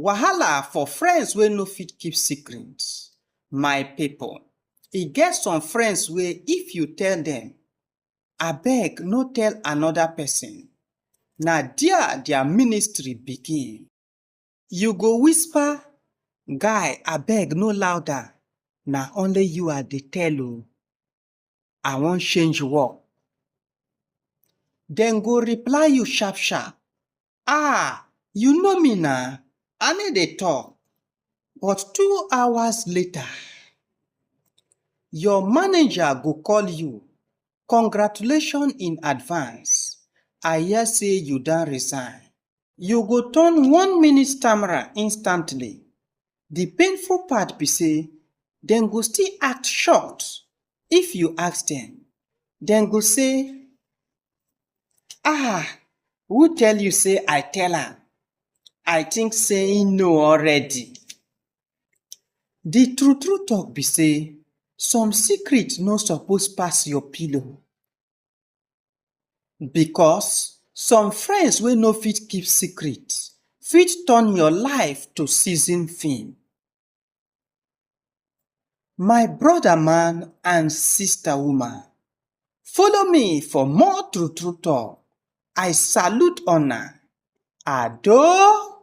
Wahala for friends wey no fit keep secret. My pipu, e get some friends wey if you tell dem, abeg no tell another pesin, na dia dia ministry begin. You go whisper, guy abeg no louder, na only you I dey tell o. I wan change work. Dem go reply you sharp sharp. Ah! You know me na, I no dey talk. But two hours later, your manager go call you. Congratulations in advance. I hear say you don resign. You go turn one minute stammerer instantly. Di painful part be sey, dem go still act shocked if you ask dem. Dem go say, Ah! who tell you sey I tell am? I think sey im know already. Di true true talk be sey, some secret no suppose pass your pillow. Because some friends wey no fit keep secret fit turn your life to season film. My brother man and sister woman, follow me for more true true talk. I salute una. Ado!